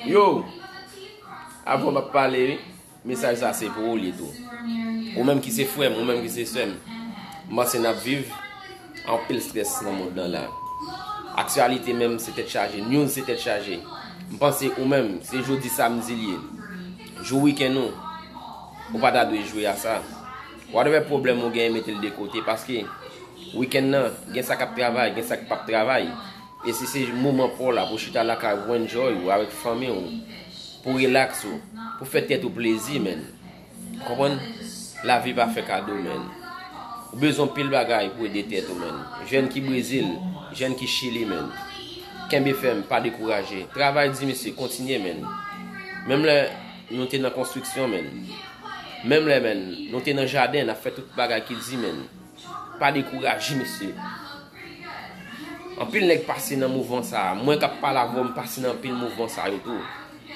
Yo, avan m ap pale, mesaj sa se pou ou li tou. Ou menm ki se frè m, ou menm ki se sè m. M panse n ap viv anpil strès nan mond nan la. Aksyalite menm se tèt chaje, news se tèt chaje. M panse ou menm, se jodi samdi li ye, jou wikenn ou, ou pa ta dwe jwe a sa. Whatever pwoblèm ou gen, mete l de kote paske wikenn nan gen sa k ap travay, gen sa k p ap travay. E si se moman paw la pou chita lakay ou pou enjoy ou avèk fanmi ou, pou relax ou, pou fè tèt ou plezi menn. Konprann? Lavi pa fè kado menn. Ou bezwen anpil bagay pou ede tèt ou menn. Jèn ki Brezil, jèn ki Chili menn. Kenbe fèm, pa dekouraje. Travay di mesye, kontinye menn. Menm lè nou te nan konstriksyon menn. Menm lè menn, nou te nan jaden, nap fè tout bagay ki di menn. Pa dekouraje mesye. Anpil nèg pase nan mouvman sa a. Mwen kap pale avè w m pase nan anpil mouvman sa yo tou.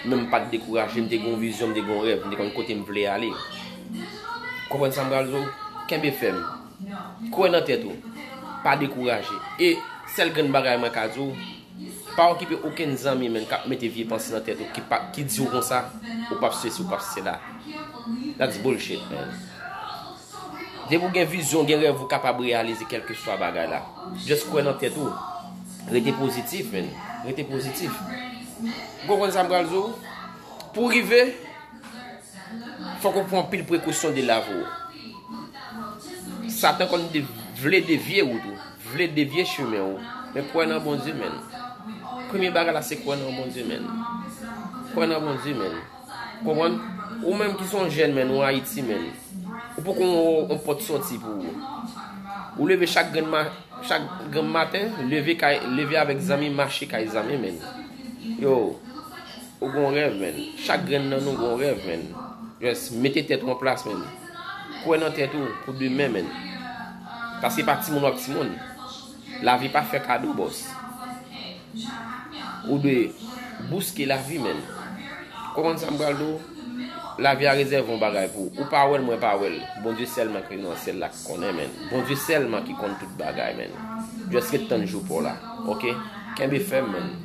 Men m pat dekouraje, m te gen yon vizyon, m te gen yon rèv, m te konn kote m vle ale. Ou konprann sa m pral di w? Kenbe fèm. Kwè nan tèt ou. Pa dekouraje. E sèl grenn bagay mwen ka di w, pa okipe okenn zanmi menm kap mete vye panse nan tèt ou ki di w konsa ou pap sesi ou pap sela. That's bullshit man. Depi ou gen vizyon, ou gen rèv ou kapab reyalize kèlkeswa bagay la. Just kwè nan tèt ou. Rete pozitif men. Rete pozitif. Ou konprann sa m pral di w? Pou w rive, fòk ou pran anpil prekosyon de lavi w. Satan konn vle devye wout ou. Vle devye chemen ou. Men kwè nan Bondye men. Premye bagay la se kwè nan Bondye men. Kwè nan Bondye men. Konprann? Ou menm ki son jèn menn ou Ayiti menn. Ou poko yon pot soti pou ou. Ou leve chak grenn ma, chak grenm maten, leve kay, leve avèk zanmi, mache kay zanmi menn. Yo, ou gon rèv menn. Chak grenn nan nou gon rèv menn. Jès, mete tèt ou an plas menn. Kwen nan tèt ou pou demen menn. Paske pa ti moun wap ti moun. Lavi pa fè kado boss. Ou dwe bouske lavi menn. Konprann sa m pral di w? Lavi a rezève yon bagay pou ou. Ou pa wè l, mwen pa wè l. Bondye sèlman ki nan syèl la ki konnen menn. Bondye sèlman ki konn tout bagay menn. Just ret tann jou pa w la. Ok? Kenbe fèm menn.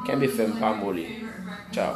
Kenbe fèm pa moli. Ciao.